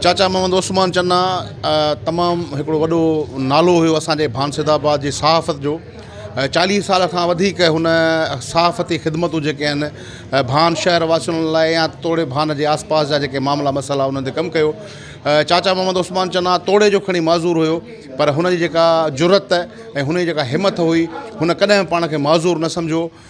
چاچا محمد عثمان چنا تمام هڪڙو وڏو نالو هيو اسان جي ڀانسيد آباد جي صحافت جو چاليهه سال کان وڌيڪ هن صحافتي خدمتون جيڪي آهن ڀان شهر واسين لاء يا توڙي ڀان جي آس پاس جا جيڪي معاملا مسئلا انهن تي ڪم ڪيو چاچا محمد عثمان چنا توڙي جو کڻي معذور هيو پر هن جي جيڪا جرت ۽ هن جي جيڪا همٿ هئي هن ڪڏهن پاڻ کي معذور نه سمجهيو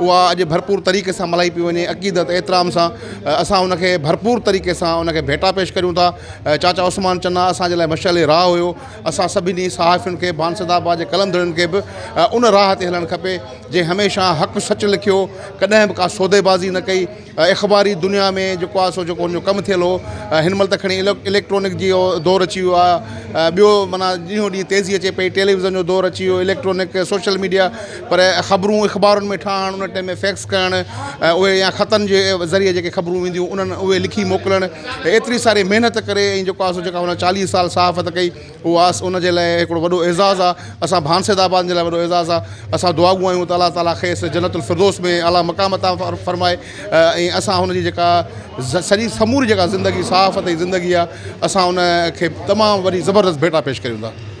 اها اڄ ڀرپور طريقي سان ملهائي پئي وڃي عقيدت احترام سان اسان ان کي ڀرپور طريقي سان ان کي ڀيٽا پيش ڪريون ٿا چاچا عثمان چنا اسان جي لاء مشعل راهه هيو اسان سڀني صحافين کي بانسد آباد جي قلندرن کي به ان راهه تي هلڻ کپي جنهن هميشه حق سچ لکيو ڪڏهن به ڪا سودي بازي نه ڪئي اخباري دنيا ۾ جيڪو آ سو جيڪو ان جو ڪم ٿيل هو هن مهل ته کڻي اليڪٽرانڪ جي دور اچي ويو آ ٻيو معنيٰ ڏينهون ڏينهن تيزي اچي پئي ٽيليوزن جو دور اچي ويو اليڪٽرانڪ سوشل ميڊيا پر خبرون اخبارن ۾ ٺاهڻ ان ٽيم ۾ فيڪس ڪرڻ ۽ اهي يا خطن جي ذريعي جيڪي خبرون وينديون انهن اهي لکي موڪلڻ ايتري ساري محنت ڪري ۽ جيڪو آ سو جيڪا هن چاليهه سال صحافت ڪئي اواس ان جي لاء هڪڙو وڏو اعزاز آ اسان ڀانسيد آبادين جي لاء وڏو اعزاز آ اسان دعا گو آهيون ته الله تعالي کيس جنت الفردوس ۾ اعليٰ مقام عطا فرمائي ۽ اسان هن جي جيڪا سڄي سموري جيڪا زندگي صحافت جي زندگي آ اسان ان کي تمام وڏي زبردست ڀيٽا پيش ڪريون ٿا.